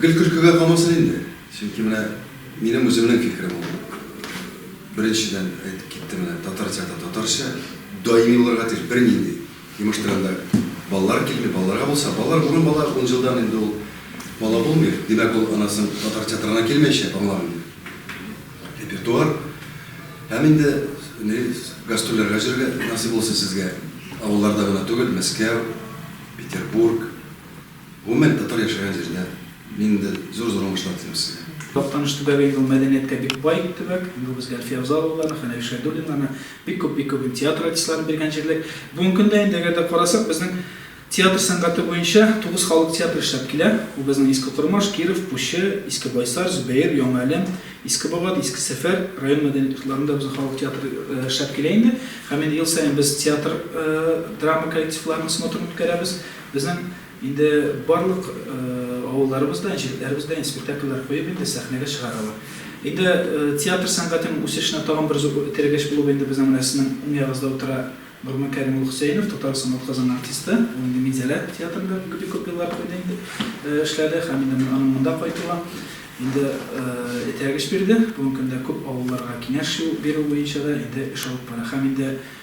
Гел көлкегә калмасын инде. Чөнки менә минем үземнең фикерем ул. Беренчедән әйтеп киттем менә, татар театры татарча, даими булырга тиеш, бернинди. Имеш тирәндә балалар килми, балаларга булса, балалар бүген бала, ун елдан инде ул бала булмый. Димәк, ул анасын татар театрына килмәячәк, аңлаган инде. Репертуар һәм инде не гастрольләргә җөрергә насыйп булсын сезгә. Авылларда гына түгел, Мәскәү, Петербург, Гомумән, татар яшәгән җирдә нинди зур-зур уңышлар телим сезгә. Актаныш төбәге инде ул мәдәнияткә бик бай төбәк. Инде ул безгә Әлфия Авзаловаларны, Хәнәф Шәйдуллиннарны, бик күп, бик күп инде театр артистларын биргән җирлек. Бүгенге көндә инде әгәр дә карасак, безнең театр сәнгате буенча тугыз халык театры эшләп килә. Ул безнең Иске Кормаш, Киров, Пучы, Иске Байсар, Зөбәер, Яңа Әлем, Иске Бабат, Иске Сәфәр район мәдәният йортларында безнең халык театры эшләп килә инде. Һәм инде ел саен без театр драма коллективларының смотрын үткәрәбез. Безнең инде барлык авылларыбыз да, җирләребез дә спектакльләр куеп инде сәхнәгә чыгаралар. Инде театр сәнгатенең үсешенә тагын бер зур этәргеч булып инде безнең менә сезнең уң ягыгызда утыра Нурман Кәрим улы Хөсәенов, татар Самат Казан артисты. Ул инде Минзәлә театрында бик күп еллар куйды инде, эшләде һәм инде аның монда кайтуы инде этәргеч бирде. Бүгенге көндә күп авылларга киңәш бирү буенча да инде эш алып бара һәм инде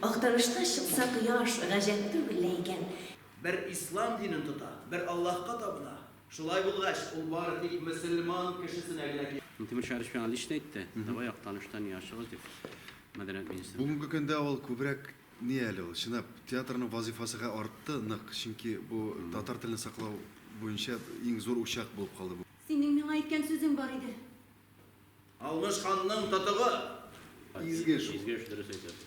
Актарышта чыкса кояш, гаҗәп түгел лә икән. Бер ислам динен тота, бер Аллаһка табына. Шулай булгач, ул бары тик мөселман кешесенә генә кирәк. Минтимер Шәрипович миңа лично әйтте, давай Актаныштан ир ачыгыз, дип, мәдәният министры. Бүгенге көндә ул күбрәк ни әле ул, чынлап, театрның вазыйфасы хә артты нык, чөнки бу татар телен саклау буенча иң зур учак булып калды бу. Синең миңа әйткән сүзең бар иде. Алмыш ханның тотыгы! Изге эш ул. Изге эш, дөрес әйтәсез.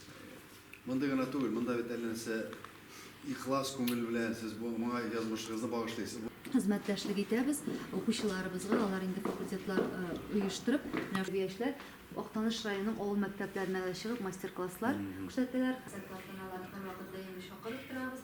Мондый гына түгел, монда бит әллә нәрсә ихлас күңел белән сез бу моңа язмышыгызны багышлыйсыз. Хезмәттәшлек итәбез, укучыларыбызга, алар инде факультетлар оештырып, тәрбиячеләр Актаныш районының авыл мәктәпләренә дә чыгып, мастер-класслар күрсәтәләр. Концерт тантаналары һәрвакыт даими чакырып торабыз.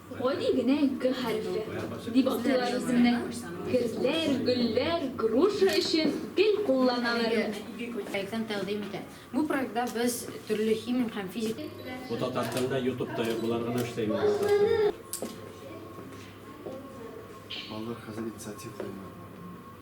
Гади генә г хәрефе, дип атыйлар үземне. Герләр, гөлләр, груша өчен гел кулланалар аны. Проектын тәкъдим итә. Бу проектта без төрле химик һәм физик. Бу Татарстанда ютуб та юк, болар гына эшләй моны Татарстанда. Балалар хәзер инициатив куймый.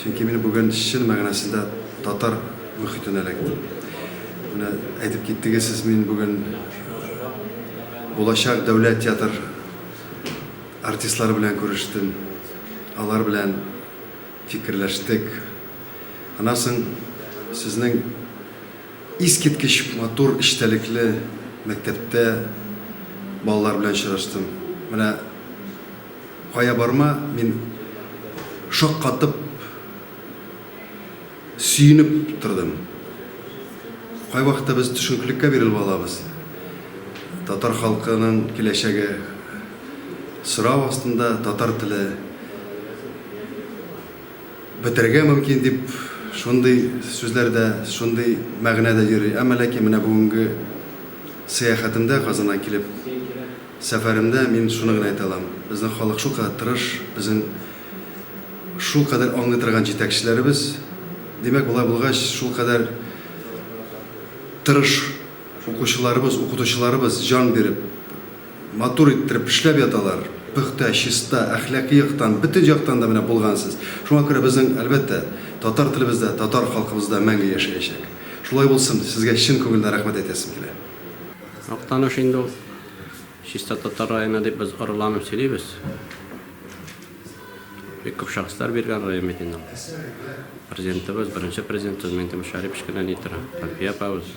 Чөнки мин бүген чын мәгънәсендә татар мөхитенә эләктем. Менә әйтеп киттегез сез, мин бүген булачак дәүләт театр артистлары белән күрештем. Алар белән фикерләштек. Аннан соң сезнең искиткеч матур эчтәлекле мәктәптә балалар белән очраштым. Менә Кая барма, мин шаккатып, сөенеп тордым. Кайвакытта без төшенкелеккә бирелеп алабыз. Татар халкының киләчәге сорау астында, татар теле бетерергә мөмкин дип шундый сүзләр дә, шундый мәгънә дә йөри. Әмма ләкин менә бүгенге сәяхәтемдә Казаннан килеп, Сәфәремдә мин шуны гына әйтә алам, безнең халык шулкадәр тырыш, безнең шулкадәр аңлый торган җитәкчеләребез, димәк, болай булгач, шулкадәр тырыш укучыларыбыз, укытучыларыбыз җан биреп, матур иттереп эшләп яталар, пөхтә, чиста, әхлакый яктан, бөтен яктан да менә булгансыз. Шуңа күрә безнең, әлбәттә, татар телебез дә, татар халкыбыз да мәңге яшәячәк. Шулай булсын, сезгә чын күңелдән рәхмәт әйтәсем килә. Актаныш инде ул. Чиста татар районы дип без орыланып сөйлибез. Бик күп шәхесләр биргән район бит инде ул. Президентыбыз, беренче президентыбыз Минтимер Шәрипович кенә ни тора, Әлфия апабыз.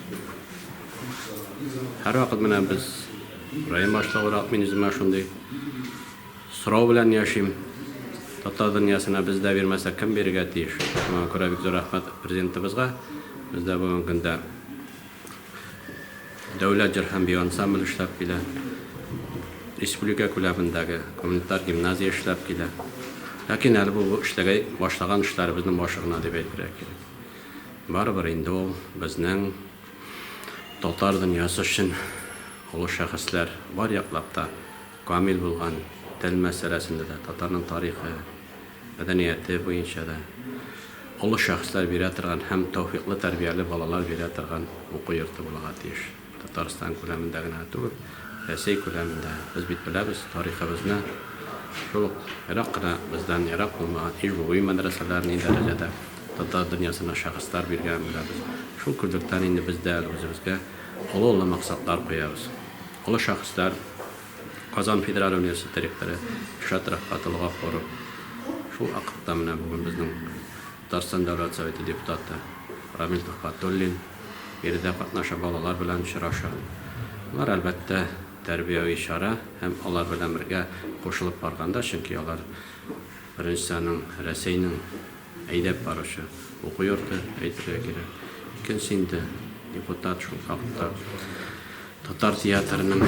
Һәрвакыт менә без район башлыгырак мин үземә шундый сорау белән яшим. Татар дөньясына без дә бирмәсәк, кем бирергә тиеш? Шуңа күрә бик зур рәхмәт президентыбызга. Без дә бүгенге көндә Дәүләт җыр һәм бию ансамбле эшләп килә. Республика күләмендәге гуманитар гимназия эшләп килә. Ләкин әле бу эшләгәй башлаган эшләребезнең башы гына дип әйтергә кирәк. Барыбер инде ул безнең татар дөньясы өчен олы шәхесләр бар яклап та камил булган, тел мәсьәләсендә дә, татарның тарихы, мәдәнияте буенча да олы шәхесләр бирә торган һәм тәүфыйклы тәрбияле балалар бирә торган уку йорты булырга тиеш. Татарстан күләмендә генә түгел, Рәсәй күләмендә. Без бит беләбез тарихыбызны, шул ук ерак кына бездән ерак булмаган Иж-Буби мәдрәсәләр ни дәрәҗәдә татар дөньясына шәхесләр биргәнен беләбез. Шул күзлектән инде без дә әле үзебезгә олы-олы максатлар куябыз. Олы шәхесләр. Казан федераль университеты ректоры Илшат Рәфкатулла Гафуров, шул акыртта менә бүген безнең Татарстан Дәүләт Советы депутаты Рамил Төхвәтуллин биредә катнаша, балалар белән очраша. Болар, әлбәттә, тәрбияви чара һәм алар белән бергә кушылып барганда, чөнки алар, беренчесе, аның Рәсәйнең, Әйдәп баручы уку йорты, әйтергә кирәк. Икенче инде депутат шул хакта татар театрының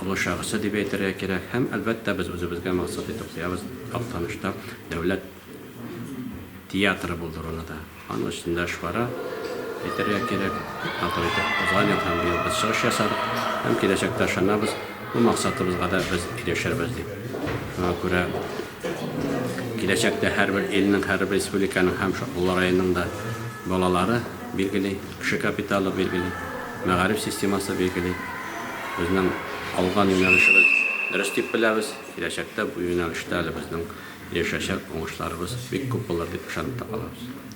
олы шәхесе дип әйтергә кирәк. Һәм, әлбәттә, без үзебезгә максат итеп куябыз Актанышта дәүләт театры булдыруны да. Аның өстендә эш бара, әйтергә кирәк. Матур итеп узган ел һәм быел без чыгыш ясадык. Һәм киләчәктә ышанабыз, бу максатыбызга да без ирешербез дип. Шуңа күрә. Киләчәктә һәрбер илнең, һәрбер республиканың һәм Шакмулла районының да балалары билгели, кеше капиталы билгели, мәгариф системасы билгели. Безнең алган юнәлешебез дөрес дип беләбез. Киләчәктә бу юнәлештә әле безнең ирешәчәк уңышларыбыз бик күп булыр дип ышанып та калабыз.